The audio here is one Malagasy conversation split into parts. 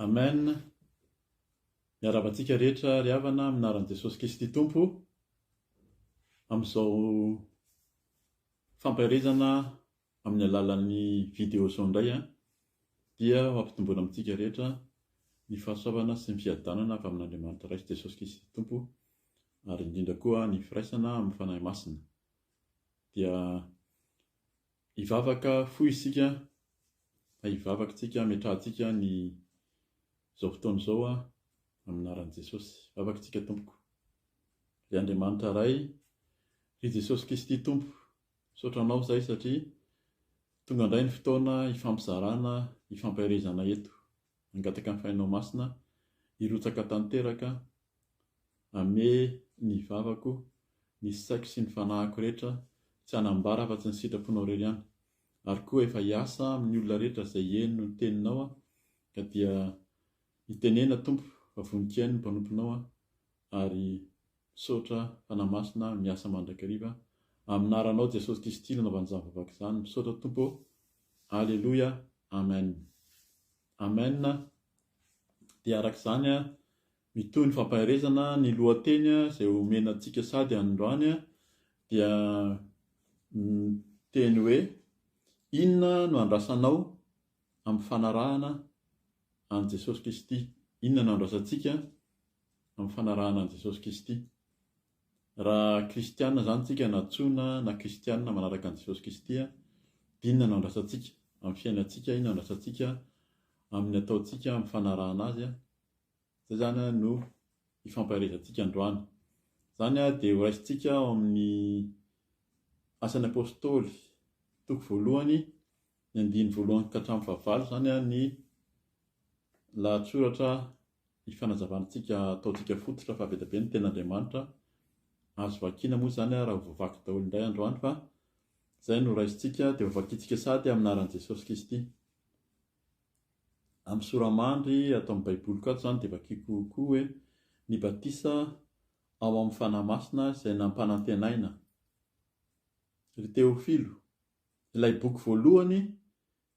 Amen miarahaba antsika rehetra ry havana amin'ny anaran'i Jesosy Kristy Tompo amin'izao fampaherezana amin'ny alalan'ny vidéo zao indray a dia hampitomboana amintsika rehetra ny fahasoavana sy ny fiadanana avy amin'Andriamanitra Ray sy Jesosy Kristy Tompo ary indrindra koa ny firaisana amin'ny Fanahy Masina dia Hivavaka fohy isika, na hivavaka tsika, ametrahantsika ny izao fotoana izao amin'ny anaran'i Jesosy. Vavaka tsika Tompoko. Ry Andriamanitra Ray, ry Jesosy Kristy Tompo, misaotra Anao zahay satria tonga indray ny fotoana hifampizarana, hifampaherezana eto. Hangataka ny Fainao Masina hirotsaka tanteraka ame ny vavako, ny saiko sy ny fanahiko rehetra, tsy hanambara afa-tsy ny sitraponao irery ihany. Ary koa efa hiasa amin'ny olona rehetra izay heno ny teninao aho, ka dia hitenena, Tompo, fa vonon-kiaino ny mpanomponao aho, Ary misaotra Fanahy Masina miasa mandrakariva amin'aranao Jesosy Kristy nanaovany izany vavaka izany misaotra Tompo ô Aleloia Amen Amen dia araka izany mitohy ny fampaherezana ny lohateny izay omena antsika sady androany dia miteny hoe inona no andrasanao amin'ny fanarahana an'i Jesosy Kristy inona no andrasantsika amin'ny fanarahana an'i Jesosy Kisty. Raha kristiana izany tsika na tsoina na kristiana manaraka an'i Jesosy Kisty dinona no andrasantsika amin'ny fiainantsika, inona no andrasantsika amin'ny ataontsika amin'ny fanarahana azy, izay izany no hifampaherezantsika androany. Izany dia horaisintsika ao amin'ny asan'ny Apostoly toko voalohany ny andiny voalohany ka hatramin'ny fahavalo, izany ny lahatsoratra Ny fanazavantsika ataontsika fototra fa be dia be ny tenin'Andriamanitra, azo vakiana moa izany ary ho vaky daholo indray andro any fa izay no raisintsika dia ho vakintsika sady amin'ny anaran'i Jesosy Kristy. Amin'ny sora-mandry ato amin'ny baiboliko ato izany dia vakiako koa hoe ny batisa ao amin'ny Fanahy Masina izay nampanantenaina. Ry Teofilo, ilay boky voalohany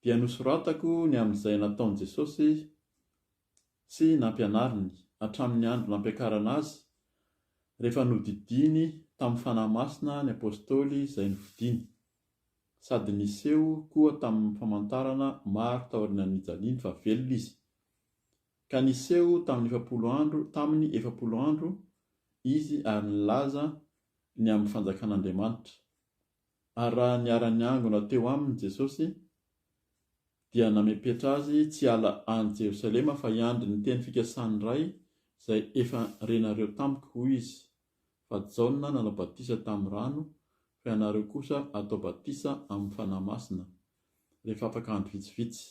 dia nosoratako ny amin'izay nataon'i Jesosy sy nampianariny, hatramin'ny andro nampiakarana azy, rehefa nodidiany tamin'ny Fanahy Masina ny Apôstôly izay nofidiny, sady niseho koa tamin'ny famantarana maro taorianan'ny nijaliany fa velona izy. Ka niseho tamin'ny efapolo andro, tamin'ny efapolo andro, izy ary nilaza ny amin'ny fanjakan'Andriamanitra. Ary raha niara-niangona teo aminy Jesosy, dia namepetra azy tsy hiala any Jerosalema fa hiandry ny teny fikasan'ny Ray izay efa renareo tamiko, hoy izy, Fa Jaona nanao batisa tamin'ny rano, fa ianareo kosa atao batisa amin'ny Fanahy Masina, rehefa afaka andro vitsivitsy.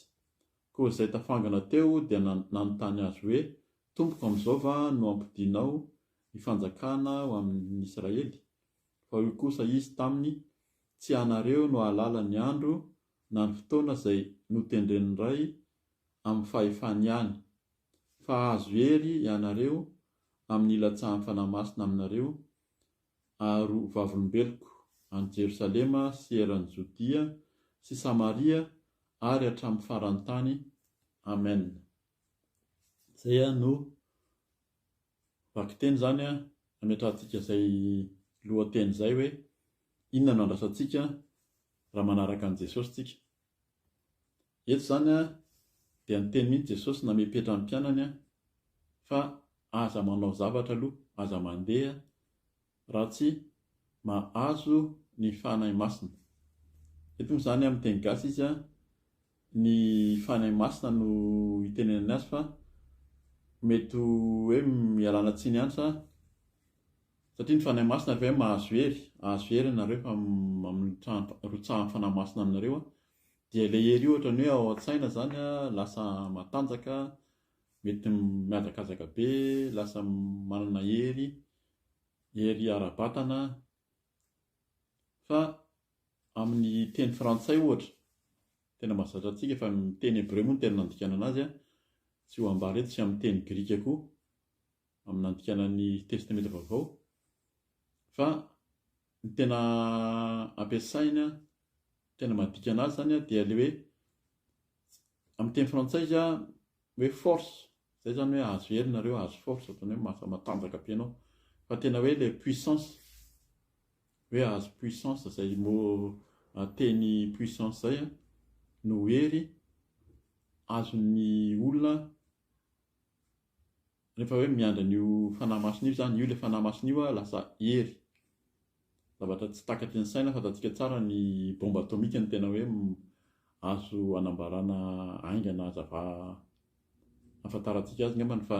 Koa izay tafangana teo dia nanontany Azy hoe, Tompoko, amin'izao va no hampodianao ny fanjakana ho an'ny Israely? Fa hoy kosa Izy taminy, Tsy ianareo no hahalala ny andro na ny fotoana izay notendren'ny Ray amin'ny fahefany ihany, fa hahazo hery ianareo amin'ny hilatsahan'ny Fanahy Masina aminareo, ary ho vavolombeloko any Jerosalema sy eran'i Jodia sy Samaria ary hatramin'ny faran'ny tany. Amena. Izay no Vakiteny izany ametrahantsika izay lohateny izay hoe, Inona no andrasantsika raha manaraka an'i Jesosy isika? Eto izany dia niteny mihitsy Jesosy namepetra ny mpianany fa aza manao zavatra aloha, aza mandeha raha tsy mahazo ny Fanahy Masina. Eto moa izany amin'ny teny gasy izy ny Fanahy Masina no itenenany azy fa mety ho hoe ialana tsiny ihany sa satria ny Fanahy Masina ry ve mahazo hery? Ahazo hery ianareo fa rotsahan'ny Fanahy Masina anareo dia ilay hery io ohatran'ny hoe ao an-tsaina izany lasa matanjaka, mety mihazakazaka be, lasa manana hery. Hery ara-batana an! Fa amin'ny teny frantsay ohatra, tena mahazatra antsika fa ny teny hebreo moa no tena nandikana anazy an! Tsy ho ambara eto sy amin'ny teny grika koa amin'ny nandikana ny Testamenta Vaovao fa ny tena ampiasaina, tena madika anazy izany an, dia ilay hoe, amin'ny teny frantsay izy an, hoe force, zay zany hoe ahazo hery nareo ahazo force otrany hoe mahafa matanjaka be anao, fa tena hoe le puissance, hoe ahazo puissance zay mot teny puissance zay an, no hery azon'ny olona Rehefa hoe miandry an'io Fanahy Masina io izany, io ilay Fanahy Masina io lasa hery. Zavatra tsy takatry ny saina, fantatsika tsara ny bomba atomika no tena hoe azo anambarana haingana hazava ahafantarantsika azy angamba ny fa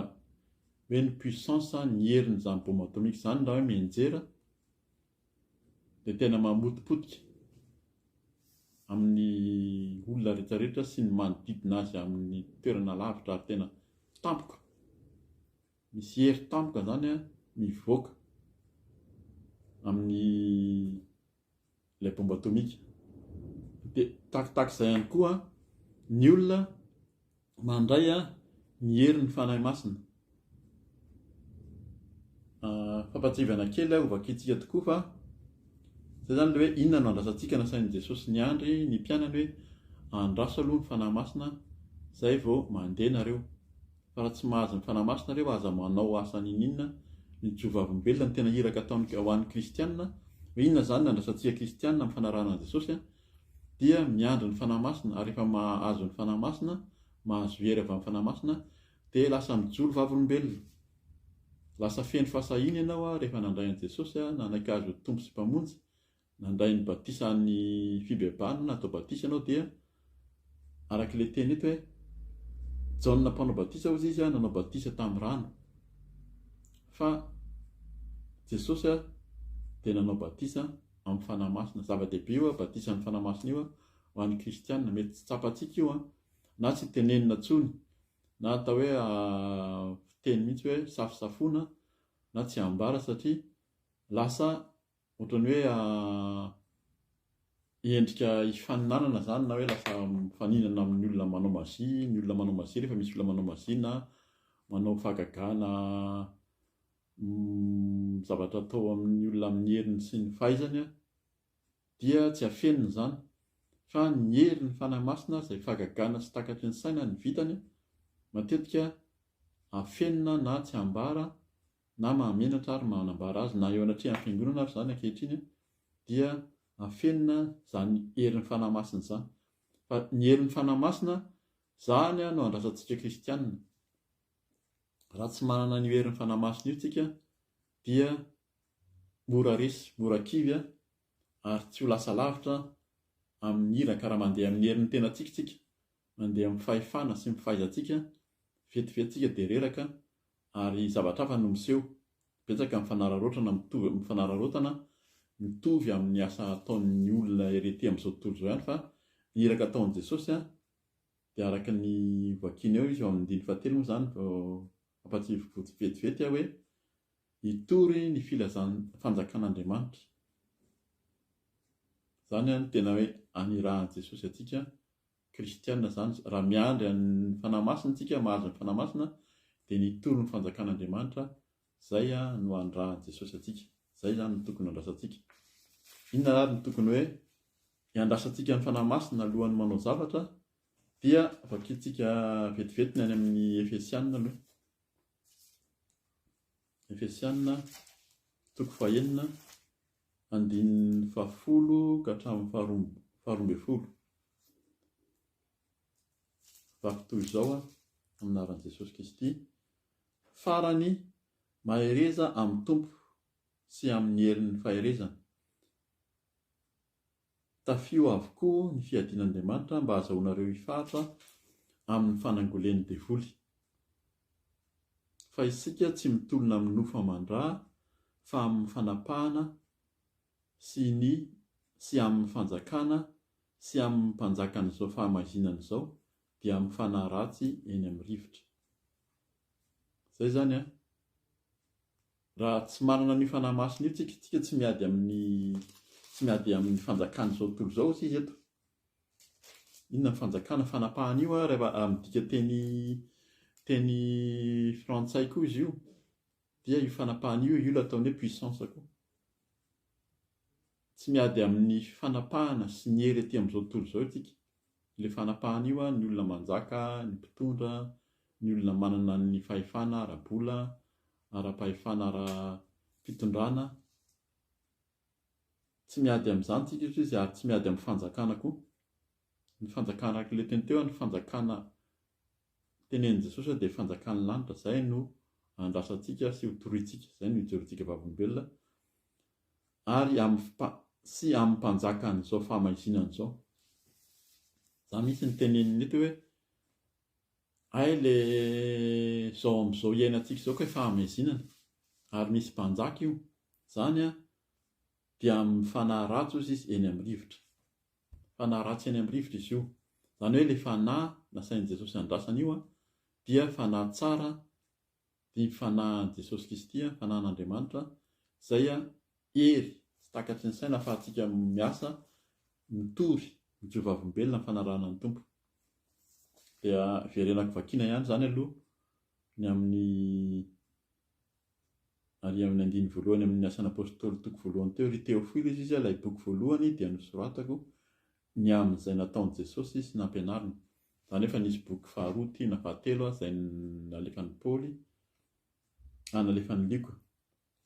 hoe ny puissance, ny herin'izany bomba atomika izany raha hoe mianjera, dia tena mamotipotika amin'ny olona rehetrarehetra sy ny manodidina azy amin'ny toerana lavitra ary tena tampoka, misy hery tampoka izany mivoaka amin'ny ilay bomba atomika. Dia tahakitahaka izay ihany koa ny olona Mandray ny herin'ny Fanahy Masina. Fampahatsiahivana kely aho hovakintsika tokoa fa izay izany ilay hoe inona no andrasantsika nasain'i Jesosy niandry ny mpianany hoe andraso aloha ny Fanahy Masina izay vao mandeha nareo. Fa raha tsy mahazo ny Fanahy Masina nareo aza manao asa niniana ny jovavolombelona ny tena iraka ataon'ny ho an'ny kristianina hoe inona izany ny andrasantsika kristianina amin'ny fanarahana an'i Jesosy dia miandry ny Fanahy Masina, ary rehefa mahazo ny Fanahy Masina, mahazo hery avy amin'ny Fanahy Masina, dia lasa mijoro vavolombelona. Lasa feno fahasahiana ianao rehefa nandray an'i Jesosy, nanaiky Azy ho Tompo sy Mpamonjy, nandray ny batisan'ny fibebahana, natao batisa ianao, dia araka ilay teny eto hoe, Jaona Mpanao Batisa hozy izy nanao batisa tamin'ny rano, fa Jesosy dia nanao batisa amin'ny Fanahy Masina. Zava-dehibe io an, batisa amin'ny Fanahy Masina io an, ho an'ny kristiana. Mety tsy tsapantsika io an, na tsy tenenina intsony, na atao hoe fiteny mihitsy hoe safosafoana, na tsy ambara satria lasa ohatran'ny hoe endrika hifaninanana izany na hoe lasa mifaninana amin'ny olona manao magie, ny olona manao magie rehefa misy olona manao magie na manao fahagagana Ny zavatra atao amin'ny olona amin'ny heriny sy ny fahaizany dia tsy afenina izany, fa ny herin'ny Fanahy Masina izay fahagagana sy takatry ny saina ny vitany, matetika afenina na tsy ambara na mahamenatra ary manambara azy na eo anatrehan'ny Fiangonana ary izany ankehitriny dia afenina izany herin'ny Fanahy Masina izany. Fa ny herin'ny Fanahy Masina izany no andrasantsika kristianina. Raha tsy manana an'io herin'ny Fanahy Masina io tsika dia mora resy, mora kivy ary tsy ho lasa lavitra amin'ny iraka raha mandeha amin'ny herin'ny tenantsika tsika, mandeha amin'ny fahefana sy ny fahaizantsika, vetivety tsika dia reraka ary zavatra hafa no miseho. Betsaka ny fanararaotana mitovy fanararaotana mitovy amin'ny asa ataon'ny olona ery aty amin'izao tontolo izao ihany fa ny iraka ataon'i Jesosy Dia araka ny vakiana eo izy eo amin'ny andininy fahatelo moa izany vao ampahatsiahivo vetivety aho hoe hitory ny filazan'ny fanjakan'Andriamanitra. Izany no tena hoe anirahan'i Jesosy antsika kristiana izany. Raha miandry an'ny fanahy masina isika, mahazo ny fanahy masina, dia ny hitory ny fanjakan'Andriamanitra Izay no andrahan'i Jesosy antsika. Izay izany no tokony handrasantsika. Inona ary no tokony hoe iandrasantsika ny Fanahy Masina alohan'ny manao zavatra? Dia vakintsika vetivety ny any amin'ny Efesianina aloha. Efesianina, toko fahenina, andininy fahafolo ka hatramin'ny faharoa faharoa ambin'ny folo. Vaky toy izao amin'ny anaran'i Jesosy Kristy. Farany, mahereza amin'ny Tompo sy amin'ny herin'ny faherezany. Tafio avokoa ny fiadian'Andriamanitra mba hahazahoanareo hifaritra amin'ny fanangolen'ny devoly. Fa isika tsy mitolona amin'ny nofo aman-dra fa amin'ny fanapahana sy ny sy amin'ny fanjakana sy amin'ny mpanjakan'izao fahamaizinana izao dia amin'ny fanahy ratsy eny amin'ny rivotra. Izay izany an! Raha tsy manana an'io fanahy masina io tsika, tsika tsy miady amin'ny tsy miady amin'ny fanjakan'izao tontolo izao isika eto. Inona ny fanjakana fanapahana io an, rehefa raha midika teny teny frantsay koa izy io, dia io fanapahana io, io ilay ataony hoe puissance koa. Tsy miady amin'ny fanapahana sy ny hery ety amin'izao tontolo izao isika, le fanapahana io a, ny olona manjaka, ny mpitondra, ny olona manana ny fahefana ara-bola, ara-pahefana ara-pitondrana, tsy miady amin'izany tsika eto izy ary tsy miady amin'ny fanjakana koa, ny fanjakana araka ilay teny teo a, ny fanjakana tenenin'i Jesosy hoe dia fanjakan'ny lanitra, izay no andrasantsika sy ho toriantsika, izay no hijorontsika vavolombelona. ary amin'ny sy amin'ny mpanjakan'izao fahamaizinana izao. Za mihitsy no teneniny mety hoe hay le zao amin'izao iainantsika izao kay fahamaizinana ary misy mpanjaka io, zany an dia amin'ny fanahy ratsy ozy izy eny amin'ny rivotra. Fanahy ratsy eny amin'ny rivotra izy io. Zany hoe le fanahy nasain'i Jesosy andrasana io an dia fanahy tsara Didy fanahin'i Jesosy Kristy, fanahin'Andriamanitra, izay hery tsy takatry ny saina ahafahantsika miasa, mitory, mijoro vavolombelona amin'ny fanarahana ny Tompo. Dia verenako vakiana ihany izany aloha ny amin'ny ary amin'ny andiny voalohany amin'ny asan'Apôstôly toko voalohany teo, ry Teofilo, izy izy ilay boky voalohany dia nosoratako, ny amin' izay nataon' i Jesosy sy nampianariny. Za nefa nisy boky faharoa ty na fahatelo aza izay nalefan' i Paoly ah nalefan' i Lioka,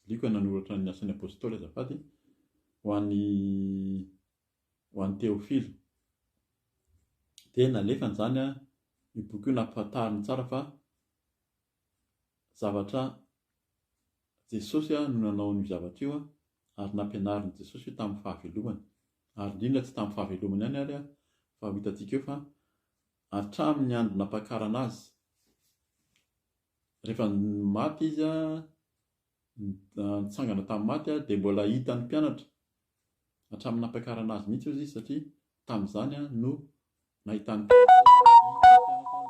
Lioka nanoratra ny Asan' ny Apôstôly azafady, ho an' i ho an' i Teôfila. Dia nalefany izany an, io boky io nampahafantariny tsara fa zavatra Jesosy no nanao an'io zavatra io ary nampianarin'i Jesosy io tamin'ny fahavelomany. Ary indrindra tsy tamin'ny fahavelomany ihany ary fa ho hitantsika eo fa hatramin'ny andro nampakarana azy. Rehefa maty izy, nitsangana tamin'ny maty dia mbola hitan'ny mpianatra hatramin'ny nampakarana azy mihitsy izy satria tamin'izany no nahitan'ny mpianatra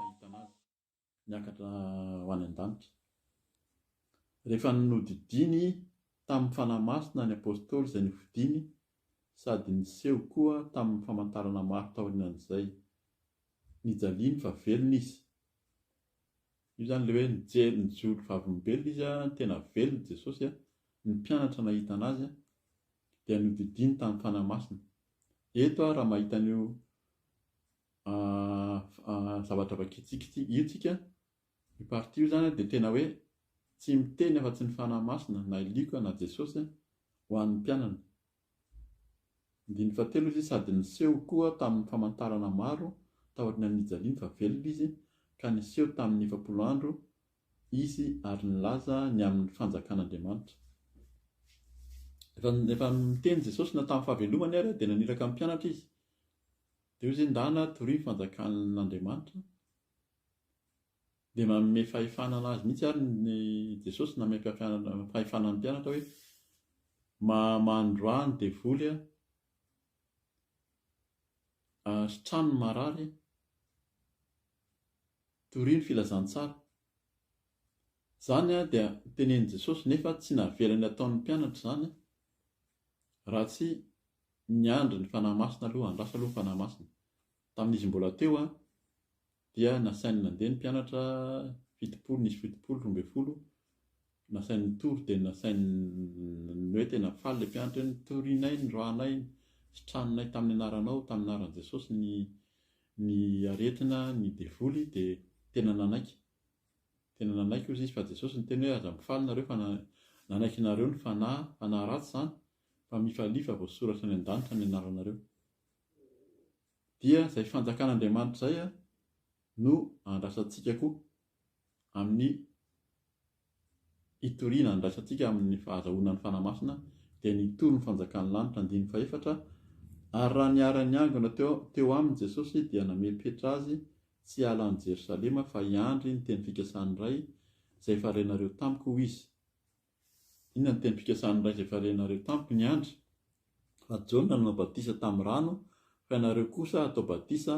nahitana azy. niakatra ho any an-danitra. Rehefa nodidiany tamin'ny Fanahy Masina ny Apostoly izay nofidiny sady niseho koa tamin'ny famantarana maro taorianan'izay. Nijaliany fa velona izy. Io izany ilay hoe nijery nijoro vavolombelona izy, tena velona Jesosy, ny mpianatra nahita an'azy dia nodidiany tamin'ny Fanahy Masina. Eto aho raha mahita an'io zavatra vakitsikitsiky io tsika io partie io zany dia tena hoe tsy miteny afa tsy ny fanahy masina na ilioka na jesosy ho an'ny mpianany ndiny fatelo izy sady niseho koa tamin'ny famantarana maro taory ny anijaliany fa velona izy ka niseho tamin'ny efapolo andro izy ary nilaza ny amin'ny fanjakan'andriamanitra efa miteny jesosy na tamin'ny fahavelomany ary dia naniraka ny mpianatra izy Dia hoy izy, Indà na toria ny fanjakan'Andriamanitra, dia manome fahefana an'azy mihitsy ary ny Jesosy nanome fahefana ny mpianatra hoe, Mamandroà ny devoly hasitrano ny marary, toria ny filazantsara. Izany dia tenenin'i Jesosy nefa tsy navelany hataon'ny mpianatra izany. Raha tsy niandry ny Fanahy Masina aloha, andraso aloha ny Fanahy Masina. Tamin'izy mbola teo dia nasainy nandeha ny mpianatra fitopolo, nisy fitopolo, roa ambin'ny folo, nasainy nitory dia nasainy ny hoe tena faly ilay mpianatra hoe notorinay, nirahanay, nisitraninay tamin'ny anaranao, tamin'ny anaran'i Jesosy ny ny aretina, ny devoly dia tena nanaiky. Tena nanaiky ozy izy fa Jesosy niteny hoe aza mifaly nareo fa nanaiky nareo ny fanahy, fanahy ratsy izany, fa mifalia fa voasoratra any an-danitra ny anaranareo. Dia izay fanjakan'Andriamanitra izay no andrasantsika koa amin'ny Hitoriana andraisantsika amin'ny fahazahoana ny Fanahy Masina dia ny hitory ny fanjakan'ny lanitra, andininy fahefatra, Ary raha niara-niangona teo aminy Jesosy dia namely Petra azy tsy hiala any Jerosalema fa hiandry ny teny fikasan'ny Ray izay efa renareo tamiko hoy izy. Inona ny teny fikasan'ny Ray izay efa renareo tamiko? Niandry fa Jaona nanao batisa tamin'ny rano fa ianareo kosa hatao batisa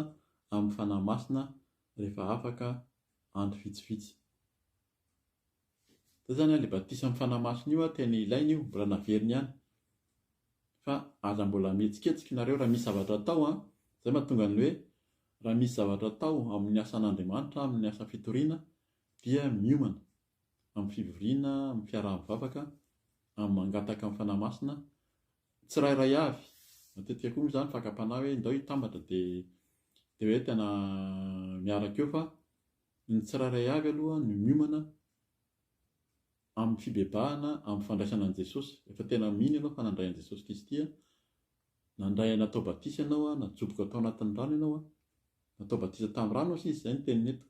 amin'ny Fanahy Masina rehefa afaka andro vitsivitsy. Zay zany ilay batisa amin'ny Fanahy Masina io tena ilaina io, mbola naveriny ihany. Fa aza mbola mihetsiketsika ianareo raha misy zavatra atao an, izay mahatonga ny hoe raha misy zavatra atao amin'ny asan'Andriamanitra, amin'ny asa fitoriana dia miomana amin'ny fivoriana, amin'ny fiaraha-mivavaka, amin'ny mangataka ny Fanahy Masina, tsirairay avy, matetika koa moa izany fakam-panahy hoe ndao hitambatra dia dia hoe tena miaraka eo fa Ny tsirairay avy aloha no miomana amin'ny fibebahana amin'ny fandraisana an'i Jesosy. Rehefa tena mino ianao fa nandray an'i Jesosy Kristy, nandray natao batisa ianao, najoboka tao anatin'ny rano ianao, natao batisa tamin'ny rano hoy sisa, izay no teniny eto,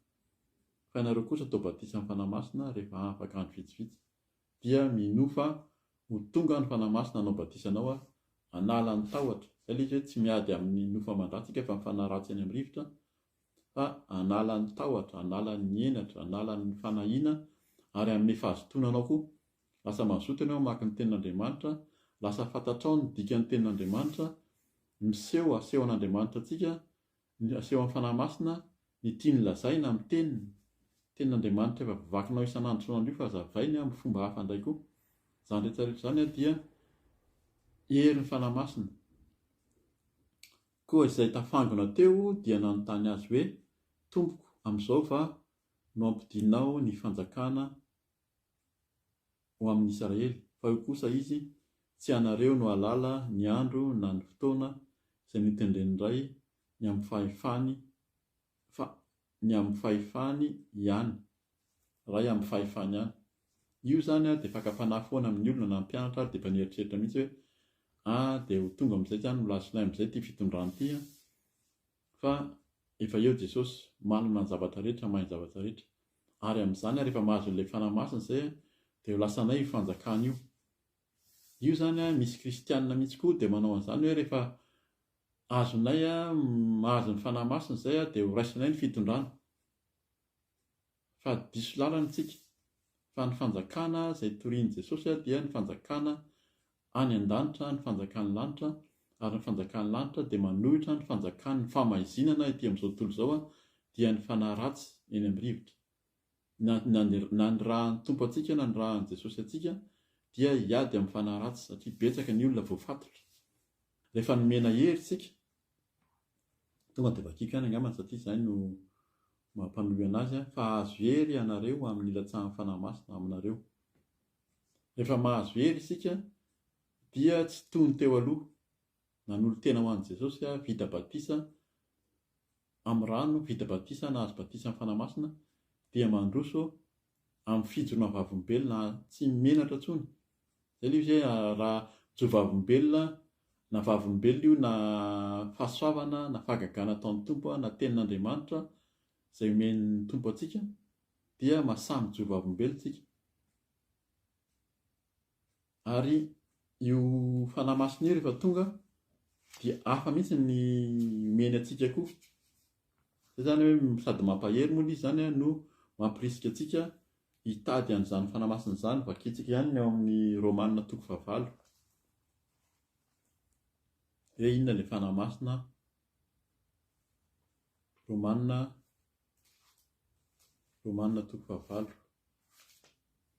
fa ianareo kosa atao batisa amin'ny Fanahy Masina rehefa afaka andro vitsivitsy, dia minoa fa ho tonga ny Fanahy Masina hanao batisa anao, hanala ny tahotra. Izay ilay izy hoe tsy miady amin'ny nofo aman-dratsy isika fa ny fanahy ratsy any amin'ny rivotra, fa hanala ny tahotra, hanala ny henatra, hanala ny fanahiana ary hanome fahazotoana anao koa. Lasa mazoto ianao hamaky ny Tenin'Andriamanitra, lasa fantatrao ny dikan'ny Tenin'Andriamanitra, miseho asehon'Andriamanitra antsika, ny asehon'ny Fanahy Masina, ny tiany lazaina amin'ny Teniny. Tenin'Andriamanitra efa vakinao isan'andro isan'andro io fa hazavainy amin'ny fomba hafa indray koa. Izany rehetra rehetra izany dia herin'ny Fanahy Masina. Koa izay tafangona teo dia nanontany Azy hoe, Tompoko, amin'izao va no hampidinao ny fanjakana ho amin'ny Israely? Fa hoy kosa Izy, Tsy ianareo no hahalala ny andro na ny fotoana izay notendren'ny Ray ny amin'ny fahefany, fa ny amin'ny fahefany ihany, Ray amin'ny fahefany ihany. Io izany ary dia fakam-panahy foana amin'ny olona na ny mpianatra ary dia efa nieritreritra mihitsy hoe ah dia ho tonga amin'izay izany, ho lasinay amin'izay ity fitondrana ity an! Fa efa eo Jesosy, manana ny zavatra rehetra, mahay ny zavatra rehetra. Ary amin'izany ary rehefa mahazo an'ilay Fanahy Masina izay dia ho lasanay io fanjakana io. Io zany an, misy kristianina mihitsy koa dia manao an'izany hoe rehefa azonay mahazo ny Fanahy Masina izay an, dia horaisinay ny fitondrana. Fa diso lalana isika. Fa ny fanjakana izay torian'i Jesosy an, dia ny fanjakana any an-danitra, ny fanjakan'ny lanitra, ary ny fanjakan'ny lanitra dia manohitra ny fanjakan'ny fahamaizinana ety amin'izao tontolo izao an, dia ny fanahy ratsy eny amin'ny rivotra. Na ny na ny rahan'ny Tompo antsika na ny rahan'i Jesosy antsika dia hiady amin'ny fanahy ratsy satria betsaka ny olona voafatotra. Rehefa nomena hery isika, tonga dia vakiko ihany angambany satria izay no maha mpanohana azy ahy, fa hahazo hery ianareo amin'ny hilatsahan'ny Fanahy Masina aminareo. Rehefa mahazo hery isika dia tsy toy ny teo aloha. Nanolo-tena ho an'i Jesosy aho, vita batisa amin'ny rano vita batisa na azo batisa amin'ny Fanahy Masina dia mandroso amin'ny fijoroana vavolombelona tsy menatra intsony. Izay ilay izy hoe raha mijoro vavolombelona, na vavolombelona io na fahasoavana na fahagagana ataon'ny Tompo na tenin'Andriamanitra izay omen'ny Tompo antsika dia mahasahy mijoro vavolombelona isika. Ary io Fanahy Masina io rehefa tonga dia hafa mihitsy ny omeny antsika koa. Izay izany hoe sady mampahery moa ilay izy izany an, no mampirisika antsika hitady an'izany Fanahy Masina izany. Vakintsika ihany ny ao amin'ny Romana toko fahavalo. Hoe inona ilay Fanahy Masina? Romana, Romana toko fahavalo.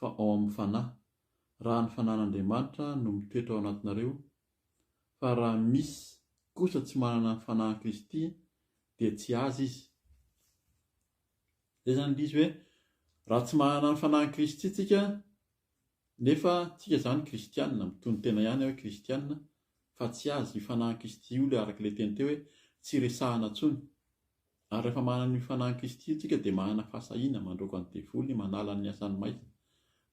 fa ao amin'ny Fanahy, raha ny Fanahin'Andriamanitra no mitoetra ao anatinareo, fa raha misy kosa tsy manana ny Fanahin'i Kristy dia tsy azy izy. Izay izany indrisy hoe, raha tsy manana ny Fanahin'i Kristy tsika, nefa tsika izany kristianina, mitonon-tena ihany hoe kristianina, fa tsy azy, io Fanahin'i Kristy io ilay araka ilay teny teo hoe, tsy resahana intsony. Ary rehefa manana io Fanahin'i Kristy io tsika dia manana fahasahiana mandroaka ny devoly manala ny asany maizina.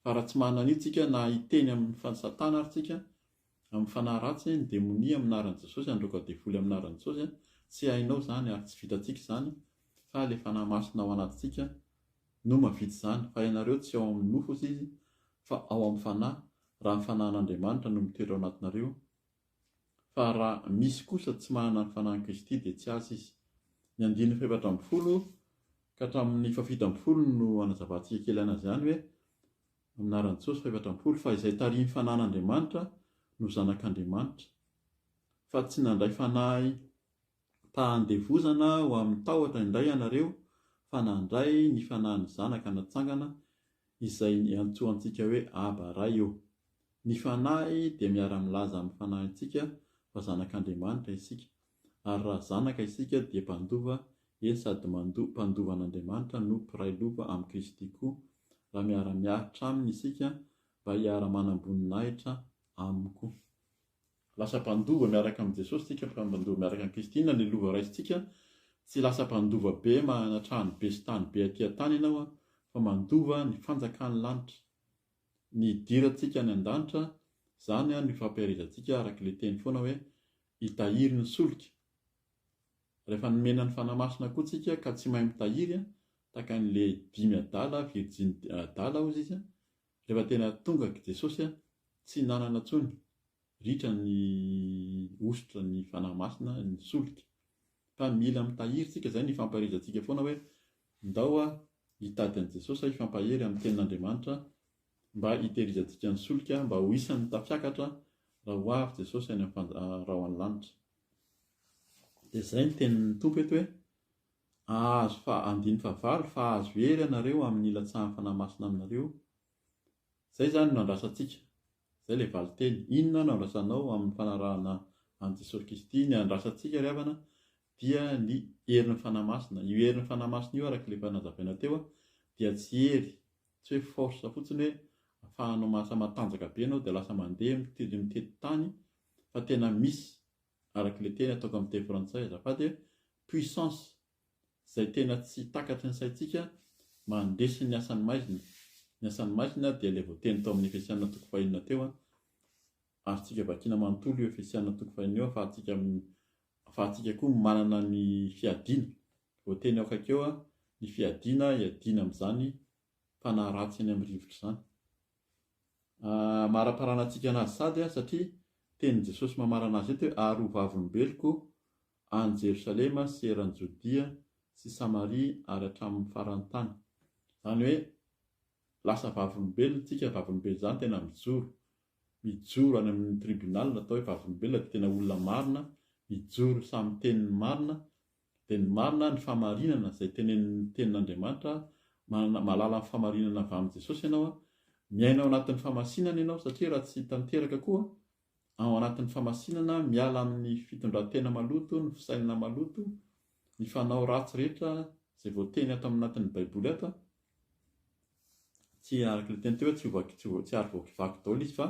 Fa raha tsy manana an'io tsika na hiteny amin'ny Satana ary tsika amin'ny fanahy ratsy ny demonia amin'ny anaran'i Jesosy handroaka devoly amin'ny anaran'i Jesosy, tsy hainao izany ary tsy vitantsika izany fa ilay Fanahy Masina ao anatintsika no mahavita izany fa ianareo tsy ao amin'ny nofo ozy izy fa ao amin'ny Fanahy raha ny Fanahin'Andriamanitra no mitoetra ao anatinareo fa raha misy kosa tsy manana ny Fanahin'i Kristy dia tsy azy izy. Ny andininy fahefatra ambin'ny folo ka hatramin'ny fahafito ambin'ny folo no hanazavantsika kely an'izany hoe, Amin'ny anaran'i Jesosy, fahefatra ambin'ny folo, fa izay tarihin'ny Fanahin'Andriamanitra no zanak'Andriamanitra, fa tsy nandray fanahy tahan-devozana ho amin'ny tahotra indray ianareo, fa nandray ny Fanahin'ny Zanaka natsangana izay iantsoantsika hoe Aba, Ray io. Ny Fanahy dia miara-milaza amin'ny fanahintsika fa zanak'Andriamanitra isika, ary raha zanaka isika dia mpandova, eny sady mandoa, mpandova an'Andriamanitra no mpiray lova amin'i Kristy koa, raha miara-miaritra Aminy isika mba hiara-manam-boninahitra Aminy koa. Lasa mpandova miaraka amin'i Jesosy isika, mpandova miaraka amin'i Kristy. Inona ny lova raisintsika? Tsy lasa mpandova be manana trano be sy tany be aty an-tany ianao, fa mandova ny fanjakan'ny lanitra. Ny hidirantsika any an-danitra, izany no ifampiherezantsika araka ilay teny foana hoe, hitahiry ny solika. Rehefa nomena ny Fanahy Masina koa tsika ka tsy mahay mitahiry, tahaka an'ilay dimy adala, virjiny adala hozy izy, Rehefa tena tonga aky Jesosy a, tsy hinanana tsony, ritra ny hosotra ny Fanahy Masina ny solika. Fa mila mitahiry tsika zay ny fampaherezatsika foana hoe ndao a hitady an'i Jesosy a hifampahery amin'ny tenin'Andriamanitra mba hitehirizantsika ny solika mba ho isan'ny tafiakatra raha ho avy Jesosy any amin'ny fanj, raha ho any lanitra. Dia zay ny tenin'ny Tompo eto hoe. Ahazo fa andiny fa valo fa ahazo hery ianareo amin ny ilatsahan fanahy masina aminareo Zay zany no andrasantsika Zay le valinteny Inona no andrasanao amin ny fanarahana an Jesosy Kristy Ny andrasantsika ry havana dia ny herin ny fanahy masina Io herin ny fanahy masina io araka le efa nazavaina teo dia tsy hery tsy hoe force fotsiny hoe afahanao mahasa matanjaka be ianao dia lasa mandeha mitety tany fa tena misy araka ilay teny ataoko amin'ny teny frantsay azafady e, puissance izay tena tsy takatry ny saintsika mandresy ny asan'ny maizina, ny asan'ny maizina dia ilay voateny tao amin'ny Efesiana toko fahenina teo an, azontsika vakiana manontolo io Efesiana toko fahenina io ahafahantsika ahafahantsika koa manana ny fiadiana, voateny ao akaikeo an, ny fiadiana iadiana amin'izany fanahy ratsy eny amin'ny rivotra izany. amaraparana antsika anazy sady a satria tenin'i Jesosy mamarana azy eto hoe ary ho vavolombeloko any Jerosalema sy eran'i Jodia sy Samaria ary hatramin'ny faran'ny tany. Izany hoe lasa vavolombelona tsika, vavolombelona izany tena mijoro, mijoro any amin'ny tribunal atao hoe vavolombelona dia tena olona marina, mijoro samy tenin'ny marina Dia ny marina, ny fahamarinana, izay tenenin'ny Tenin'Andriamanitra, manana, mahalala ny fahamarinana avy amin'i Jesosy ianao, miaina ao anatin'ny fahamasinana ianao, satria raha tsy tanteraka koa, ao anatin'ny fahamasinana, miala amin'ny fitondran-tena maloto, ny fisainana maloto, ny fanao ratsy rehetra, izay voateny ato amin'ny anatin'ny Baiboly ato, tsy araka ilay teny teo hoe tsy ho, tsy ho, tsy ary voakivaky daholo izy fa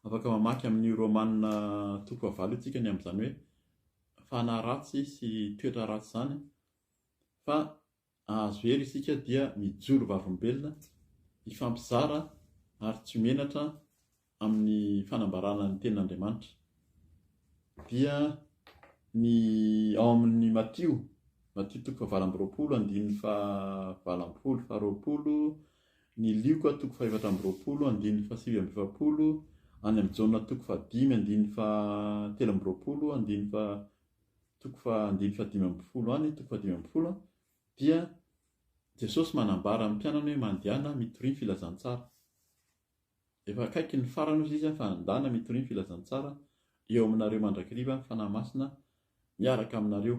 afaka mamaky amin'io Romana toko fahavalo io tsika ny amin'izany hoe fanahy ratsy sy toetra ratsy izany fa ahazo hery isika dia mijoro vavolombelona hifampizara ary tsy menatra amin'ny fanambarana ny tenin'Andriamanitra dia ny ao amin'ny Matio Matio toko fahavalo amby roapolo andininy fahavalo ampolo faharoapolo Ny Lioka toko fahefatra amby roapolo andininy fahasivy amby efapolo any amin'i Jaona toko fahadimy andininy fahatelo amby roapolo andininy faha toko faha andininy fahadimy ambin'ny folo any toko fahadimy ambin'ny folo an, dia Jesosy manambara amin'ny mpianany hoe mandehana mitoria ny filazantsara. Efa akaiky ny farany hozy izy an, fa andana mitoria ny filazantsara eo aminareo mandrakiriva ny Fanahy Masina miaraka aminareo.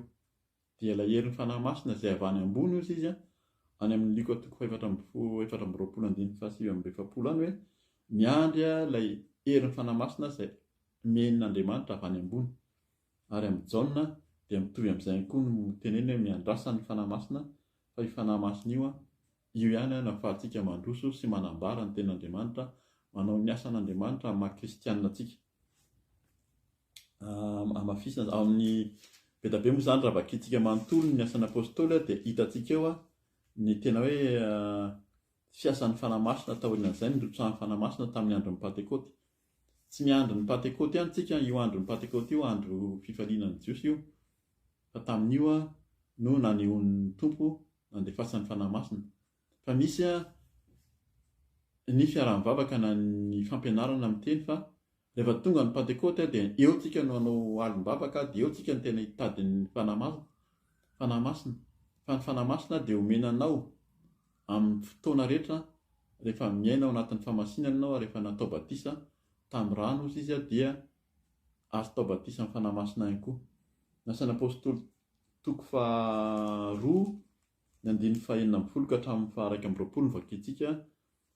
Dia ilay herin'ny Fanahy Masina izay avy any ambony hozy izy an, any amin'ny Lioka toko fahefatra amby folo, efatra amby roapolo andininy fahasivy amby efapolo any hoe, Miandry aho ilay herin'ny Fanahy Masina izay omen'Andriamanitra avy any ambony. Ary amin'i Jaona dia mitovy amin'izay ihany koa no teneniny hoe miandrasa ny Fanahy Masina fa io Fanahy Masina io an, io ihany an no ahafahantsika mandroso sy manambara ny tenin'Andriamanitra, manao ny asan'Andriamanitra amin'ny maha kristiana antsika. hamafisina ao amin'ny be dia be moa izany raha vakintsika manontolo ny asan'ny apôstôly dia hitantsika eo ny tena hoe fiasan'ny fanahy masina taorian'izay ny rotsahan'ny fanahy masina tamin'ny andron'ny pantekôty tsy ny andron'ny pantekôty ihany tsika io andron'ny pantekôty io andro fifalinan'ny jiosy io fa tamin'io no nanehoan'ny tompo nandefasan'ny fanahy masina fa misy ny fiaraha-mivavaka na ny fampianarana amin'ny teny fa Rehefa tonga ny Pantekoty dia eo tsika no hanao alim-bavaka dia eo tsika no tena hitady ny Fanahy Masina, Fanahy Masina, fa ny Fanahy Masina dia omena anao amin'ny fotoana rehetra rehefa miaina ao anatin'ny famasinana ianao ary rehefa natao batisa tamin'ny rano ozy izy dia azotao batisa amin'ny Fanahy Masina ihany koa. Ny Asan'ny Apostoly toko faha roa ny andininy faha enina ambin'ny folo ka hatramin'ny faha iraika amby roapolo no vakintsika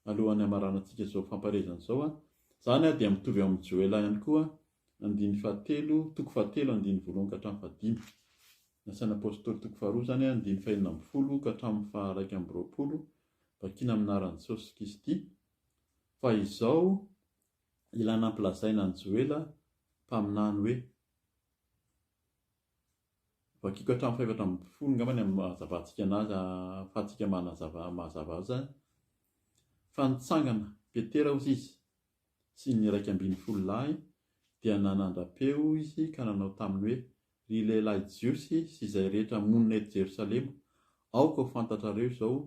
alohan'ny hamaranantsika izao famparezana izao a. Izany dia mitovy ao amin'ny Joela ihany koa, andininy fahatelo, toko fahatelo, andininy voalohany ka hatramin'ny fahadimy. Ny asan'ny Apôstôly toko faharoa izany, andininy fahenina ambin'ny folo ka hatramin'ny faharaika amby roapolo, vakina amin'ny anaran'i Jesosy Kristy. Fa izao ilana ampilazaina an'i Joela mpaminany hoe. Vakiko hatramin'ny fahefatra ambin'ny folo angamba ny amin'ny maha-hazavantsika anazy ahafahantsika manazava mazava azy izany. Fa nitsangana Petera hozy izy sy ny iraika ambin'ny folo lahy dia nanandra-peo izy ka nanao taminy hoe, Ry lehilahy Jiosy sy izay rehetra monina eto Jerosalema, aoka ho fantatrareo izao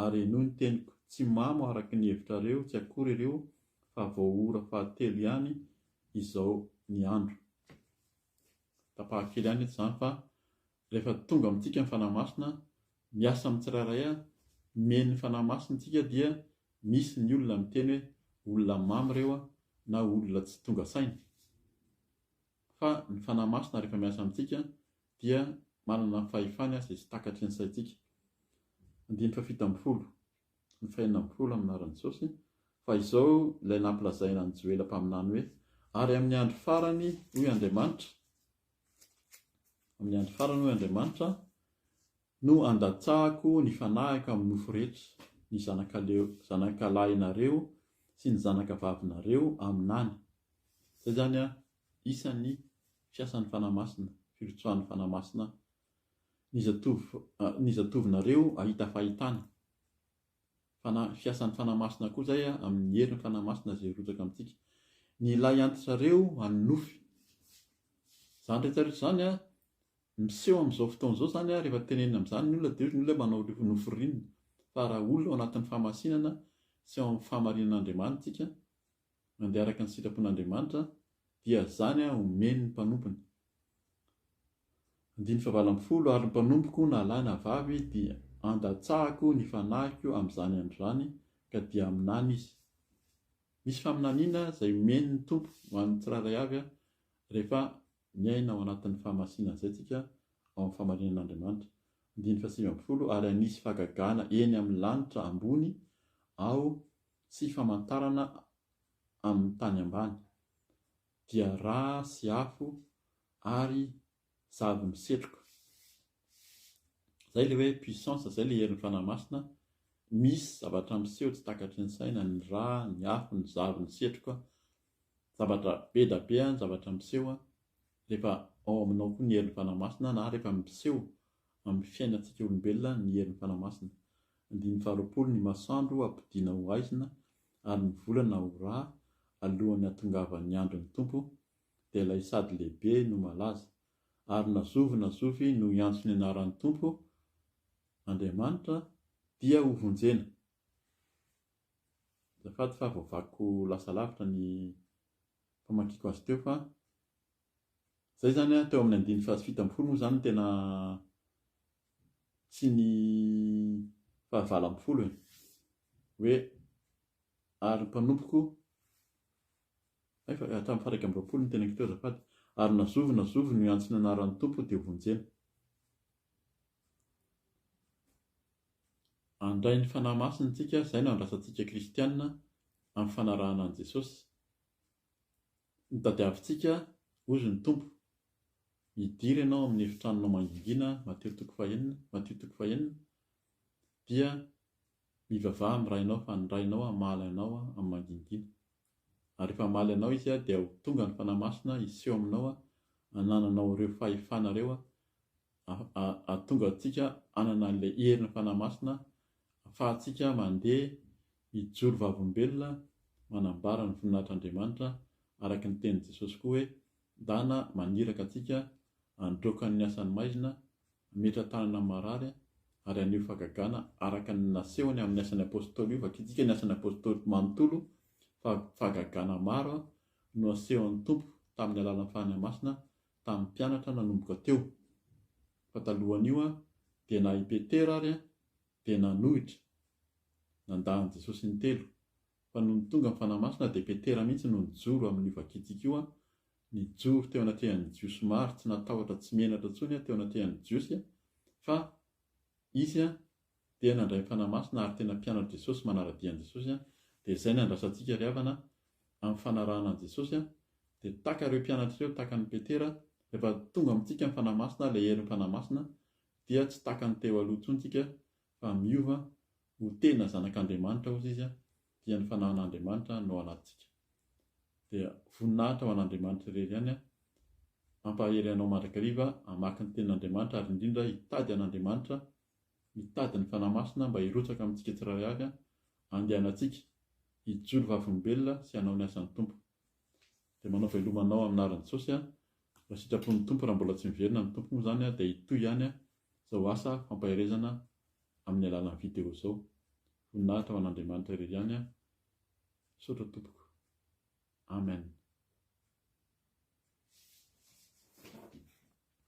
ary henoy ny teniko, tsy mamo araka ny hevitrareo tsy akory ireo fa vao ora fahatelo ihany izao ny andro. Tapahako kely ihany eto izany fa rehefa tonga amintsika ny Fanahy Masina, miasa amin'ny tsirairay aho, mihaino ny Fanahy Masina isika dia misy ny olona miteny hoe olona mamy ireo na olona tsy tonga saina. Fa ny Fanahy Masina rehefa miasa amintsika dia manana fahefany aza izy takatry ny saintsika. Andininy fahafito ambin'ny folo. ny fahenina amby folo amin'ny anaran'i Jesosy, fa izao ilay nampilazaina an'i Joela mpaminany hoe, Ary amin'ny andro farany, hoy Andriamanitra, amin'ny andro farany, hoy Andriamanitra, no handatsahako ny fanahiko amin'ny nofo rehetra, ny zanakaleo, zanakalahinareo sy ny zanakavavinareo aminany. Izay izany an, isan'ny fiasan'ny Fanahy Masina, firotsahan'ny Fanahy Masina Ny zatovo ny zatovo-nareo ahita fahitana. Fana fiasan'ny Fanahy Masina koa izay amin'ny herin'ny Fanahy Masina izay hirotsaka amintsika. Ny ilay anti-trareo an'ny nofy. Izany rehetra rehetra izany an, miseho amin'izao fotoana izao izany an, rehefa tenenina amin'izany ny olona dia hoy ny olona hoe manao ry nofy rinona. Fa raha olona ao anatin'ny fahamasinana sy ao amin'ny fahamarinan'Andriamanitsika, mandeha araka ny sitrapon'Andriamanitra, dia izany omeny ny mpanompony. Andininy fahavalo ambin'ny folo, Ary ny mpanompoko na lahy na vavy dia andatsahako ny fanahiko amin'izany andro izany, ka dia haminany izy. Misy faminaniana izay omeny ny Tompo ho an'ny tsirairay avy rehefa miaina ao anatin'ny fahamasinana izay isika ao amin'ny fahamarinan'Andriamanitra. Andininy fahasivy ambin'ny folo, Ary hanisy fahagagana eny amin'ny lanitra ambony aho Tsy famantarana amin'ny tany ambany, dia rà sy afo ary zavy misetroka. Izay ilay hoe puissance, izay ilay herin'ny Fanahy Masina, misy zavatra miseho tsy takatry ny saina, ny rà, ny afo, ny zavy misetroka, Zavatra be da be ny zavatra miseho rehefa ao aminao koa ny herin'ny Fanahy Masina na rehefa miseho amin'ny fiainantsika olombelona ny herin'ny Fanahy Masina. Andininy faharoapolo Ny masoandro hampodiana ho haizina ary ny volana ho rà alohan'ny hatongavan'ny andron'ny Tompo, dia ilay sady lehibe no malaza. Ary na zovy na zovy no hiantso ny anaran'ny Tompo Andriamanitra dia hovonjena. Azafady fa voavakyko lasa lavitra ny famakiako azy teo fa izay izany an, teo amin'ny andininy fahafito ambin'ny folo moa izany no tena tsy ny fahavalo ambin'ny folo e. Hoe ary ny mpanompoko, hay fa hatramin'ny faha iraika amby roapolo no teneniko teo azafady, ary na zovy na zovy no hiantso ny anaran'ny Tompo dia hovonjena. Handray ny Fanahy Masina isika, izay no andrasa antsika kristiana amin'ny fanarahana an'i Jesosy. Ny tadiavintsika, hozy ny Tompo, hidiry ianao amin'ny efitranonao mangingina, Matio toko fahenina, Matio toko fahenina, dia mivavaha amin'ny Rainao fa ny Rainao hamaly anao amin'ny mangingina. Ary rehefa hamaly anao Izy aho, dia ho tonga ny Fanahy Masina hiseho aminao, hanananao ireo fahefana ireo, hahatonga antsika hanana an'ilay herin'ny Fanahy Masina, hahafahantsika mandeha, mijoro vavolombelona, manambara ny voninahitr'Andriamanitra, araka ny tenin'i Jesosy koa hoe, Ndana maniraka antsika handroaka ny asan'ny maizina, Hametra tanana amin'ny marary ary haneho fahagagana araka ny nasehony amin'ny Asan'ny Apôstôly Io vakitsika ny Asan'ny Apôstôly manontolo fa fahagagana maro no asehon'ny Tompo tamin'ny alalan'ny Fanahy Masina tamin'ny mpianatra nanomboka teo fa talohan'io dia na i Petera ary dia nanohitra nandà an'i Jesosy intelo fa nony tonga ny Fanahy Masina dia Petera mihitsy no nijoro amin'io vakitsika io Nijoro teo anatrehan'ny Jiosy maro tsy natahotra tsy menatra intsony aho teo anatrehan'ny Jiosy fa izy dia nandray ny Fanahy Masina ary tena mpianatr'i Jesosy manara-dia an'i Jesosy dia izay no andrasantsika ry havana amin'ny fanarahana an'i Jesosy dia tahaka ireo mpianatra ireo tahaka an'i Petera rehefa tonga amintsika ny Fanahy Masina ilay herin'ny Fanahy Masina dia tsy tahaka ny teo aloha intsony tsika fa miova ho tena zanak'Andriamanitra ozy izy dia ny fanahin'Andriamanitra no ao anatintsika. Dia voninahitra ho an'Andriamanitra irery ihany an! Hampahery anao mandrakariva hamaky ny tenin'Andriamanitra ary indrindra hitady an'Andriamanitra, mitady ny Fanahy Masina mba hirotsaka amintsika tsirairay avy an! Andehanantsika hijoro vavolombelona sy hanao ny asan'ny Tompo. Dia manao veloma anao amin'ny anaran'i Jesosy an! Raha sitrapon'ny Tompo raha mbola tsy miverina ny Tompo moa izany dia hitohy ihany izao asa fampaherezana amin'ny alalan'ny video izao. Voninahitra ho an'Andriamanitra irery ihany aho. Misaotra tompoko. Amen.